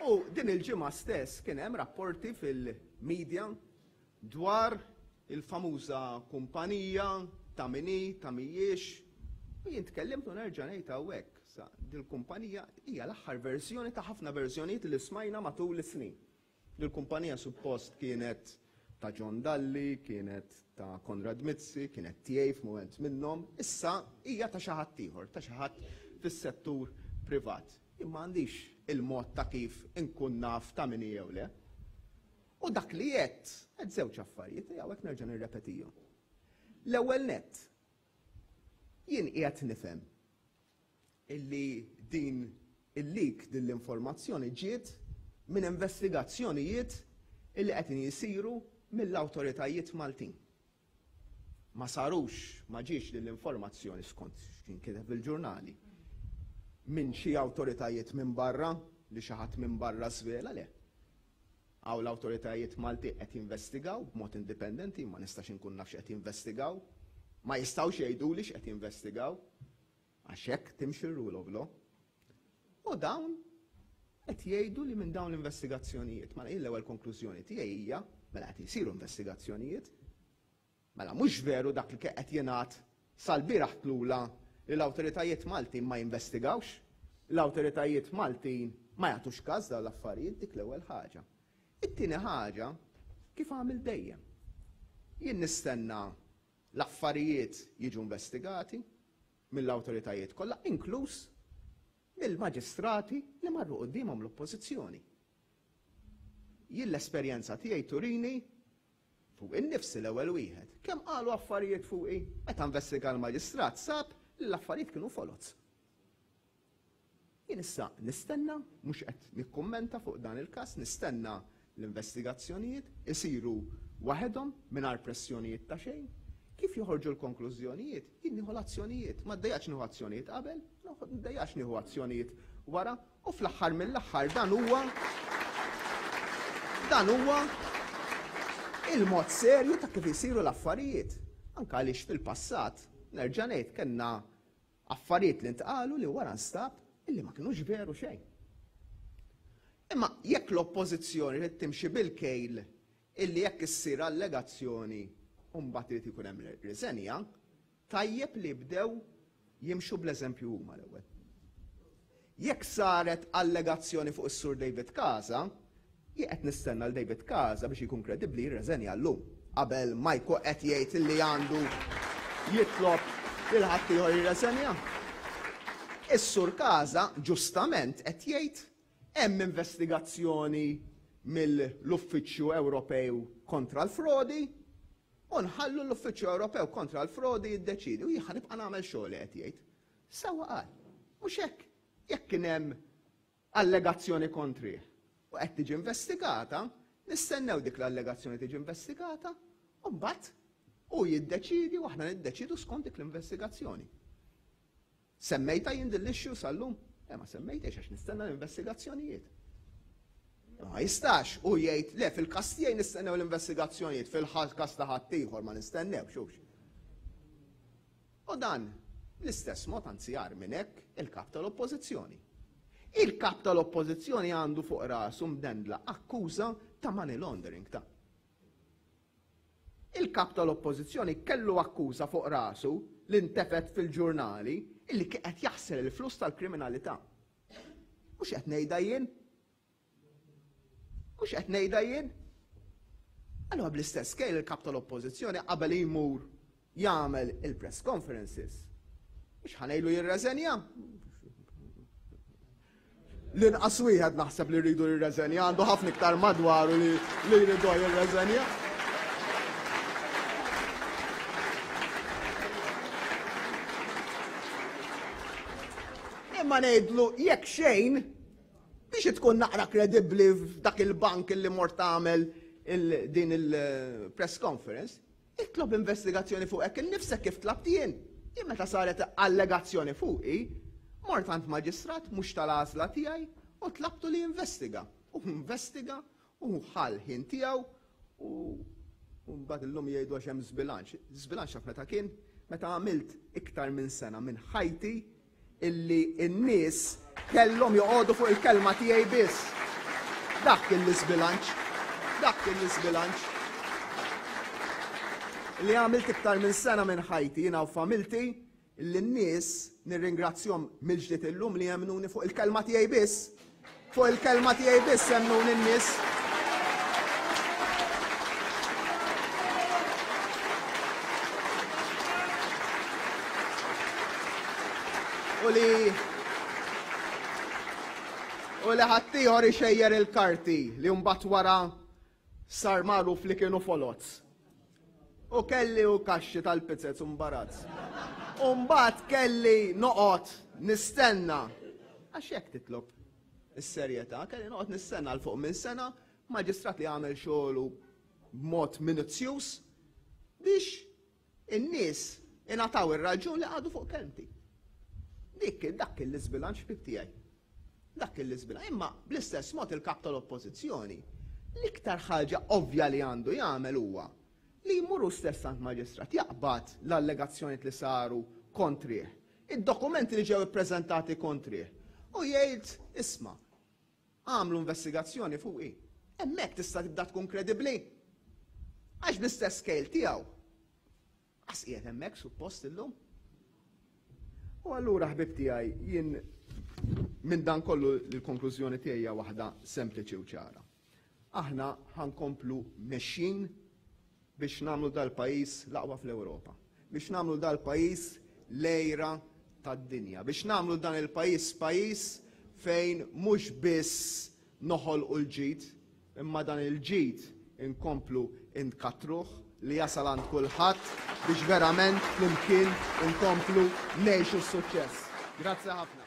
U din il-ġimgħa stess kien hemm rapporti fil-medja dwar il-famuża kumpanija ta' mini, ta' mijiex, u jien tkellimt u nerġa' ngħid hawnhekk Issa, dil-kumpanija hija l-aħħar verżjoni ta' ħafna verżjonijiet li smajna matul is-snin. Din il-kumpanija suppost kienet ta' John Dalli, kienet ta' Konrad Mizzi, kienet tiegħi f'mument minnhom, issa hija ta' xi ħadd ieħor, ta' xi ħadd fis-settur privat. Jien ma għandix il-mod ta' kif inkun naf ta' min hi jew le. U dak li għedt, għedt żewġ affarijiet li hawnhekk nerġa' nirrepetihom. L-ewwel nett, jien qiegħed nifhem illi din il-leak din l-informazzjoni ġiet minn investigazzjonijiet illi qegħdin jisiru mill-awtoritajiet Maltin. Ma sarux, ma ġiex din l-informazzjoni skont x'kien kiteb il-ġurnali minn xi awtoritajiet minn barra li xi ħadd minn barra żvela le. Hawn l-awtoritajiet Malti qed jinvestigaw b'mod indipendenti, ma nistax inkun naf x'qed jinvestigaw, ma jistgħux jgħiduli x'qed jinvestigaw. Għax hekk timxi r-rule of law. U dawn qed jgħidu li minn dawn l-investigazzjonijiet, mela jien l-ewwel konklużjoni tiegħi hija mela qed isiru investigazzjonijiet, mela mhux veru dak li kien qed jingħad sal-bieraħ tlula li l-awtoritajiet Maltin ma jinvestigawx, l-awtoritajiet Maltin ma jagħtux każ dawn l-affarijiet, dik l-ewwel ħaġa. It-tieni ħaġa, kif għamilt dejjem. Jien nistenna L-affarijiet jiġu investigati mill-awtoritajiet kollha, inkluż mill-maġistrati li marru quddiemhom l-Oppożizzjoni. Jien l-esperjenza tiegħi turini, fuqi nnifsi l-ewwel wieħed, kemm qalu affarijiet fuqi, meta investiga l-maġistrat sab li l-affarijiet kienu foloz. Jien issa nistenna, mhux qed nikkummenta fuq dan il-każ, nistenna l-investigazzjonijiet isiru waħedhom mingħajr pressjonijiet ta' xejn. Kif joħorġu l-konklużjonijiet, jien nieħu l-azzjonijiet. Ma ddejjaqx nieħu azzjonijiet qabel, ma ddejjaqx nieħu azzjonijiet wara u fl-aħħar mill-aħħar dan huwa dan huwa il-mod serju ta' kif isiru l-affarijiet. Anke għaliex fil-passat, nerġa' ngħid, kellna Affarijiet li ntqalu li wara nstab illi ma kinux veru xejn. Imma jekk l-Oppożizzjoni trid timxi bil-kejl illi jekk issir allegazzjoni u mbagħad irid ikun hemm riżenja, tajjeb li jibdew jimxu bl-eżempju huma l-ewwel. Jekk saret allegazzjoni fuq is-Sur David Casa, jien qed nistenna lil David Casa biex jkun kredibbli jirreżenja llum qabel ma jkun qed jgħid li għandu jitlob lil ħaddieħor jirreżenja. Is-Sur Casa ġustament qed jgħid hemm investigazzjoni mill-Uffiċċju Ewropew kontra l-Frodi u nħallu l-Uffiċċju Ewropew kontra l-Frodi jiddeċiedi u jien ħa nibqa' nagħmel xogħli qed jgħid. Sewwa qal, mhux hekk? Jekk kien hemm allegazzjoni kontrih u qed tiġi investigata, nistennew dik l-allegazzjoni tiġi investigata u mbagħad hu jiddeċiedi u aħna niddeċiedu skont dik l-investigazzjoni. Semmejta jien din l-issue sal-lum? Le ma semmejtiex għax nistenna l-investigazzjonijiet. Ma jistax u jgħid le fil-każ tiegħi nistennew l-investigazzjonijiet fil-każ ta' ħadd ieħor ma nistennewx hux. U dan bl-istess mod, anzi agħar minn hekk, il-Kap tal-Oppożizzjoni. Il-Kap tal-Oppożizzjoni għandu fuq rasu mdendla akkuża ta' money laundering ta'. Il-Kap tal-Oppożizzjoni kellu akkuża fuq rasu li ntefgħet fil-ġurnali illi kien qed jaħsel il-flus tal-kriminalità. Mhux qed ngħidha jien. Mhux qed ngħidha jien. Allora bl-istess kejl il-kap tal-oppożizzjoni qabel jmur jagħmel il-press conferences. Mhux ħanejlu jirreżenja. L-inqas wieħed naħseb li rridu jirreżenja, għandu ħafna iktar madwaru li jridu jirreżenja. Imma ngħidlu jekk xejn Biex tkun naqra kredibbli f'dak il-bank li mort tagħmel din il-press conference, itlob investigazzjoni fuqek innifsek kif tlabt jien. Jien meta saret allegazzjoni fuqi, mort għand maġistrat mhux tal-għażla tiegħi u tlabtu li jinvestiga. U investiga Hu ħa l-ħin tiegħu u u mbagħad illum jgħidu għax hemm żbilanċ. Żbilanċ taf meta kien? Meta għamilt iktar minn sena minn ħajti illi n-nies kellhom joqogħdu fuq il-kelma tiegħi biss. Dak kien l-iżbilanċ. Dak kien l-iżbilanċ. Li għamilt iktar minn sena minn ħajti jiena u familti lin-nies, nirringrazzjahom mill-ġdid illum li jemmnuni fuq il-kelma tiegħi biss. Fuq il-kelma tiegħi biss jemmnuni n-nies. U li u li ħaddieħor ixejjer il-karti li mbagħad wara Sar magħruf li kienu foloz. U kelli u kaxxi tal-pizzez u mbarazz. U mbagħad kelli noqgħod nistenna. Għax hekk titlob is-serjetà, kelli noqgħod nistenna għal fuq minn sena maġistrat li għamel xogħlu b'mod minuzzjuż biex In-nies ingħataw ir-raġun li qagħdu fuq kelmti. Dik dak kien l-iżbilanċ ħbib tiegħi. Dak kien l-iżbilanċ. Imma bl-istess mod il-Kap tal-Oppożizzjoni l-iktar ħaġa ovvja li għandu jagħmel huwa li jmur hu stess għand maġistrat jaqbad l-allegazzjonijiet li saru kontrih, id-dokumenti li ġew ippreżentati kontrih u jgħid, isma', Għamlu investigazzjoni fuqi. Hemmhekk tista' tibda tkun kredibbli. Għax bl-istess scale tiegħu, qas qiegħed hemmhekk suppost illum. U allura ħbib tiegħi jien minn dan kollu l-konklużjoni tiegħi hija waħda sempliċi u ċara. Aħna ħa nkomplu mexjin biex nagħmlu dal-pajjiż l-aqwa fl-Ewropa, biex nagħmlu dal-pajjiż l-għira tad-dinja, biex nagħmlu dan il-pajjiż pajjiż fejn mhux biss noħolqu l-ġid, imma dan il-ġid inkomplu nkattruh li jasal għand kulħadd biex verament flimkien inkomplu ngħixu s-suċċess. Grazzi ħafna.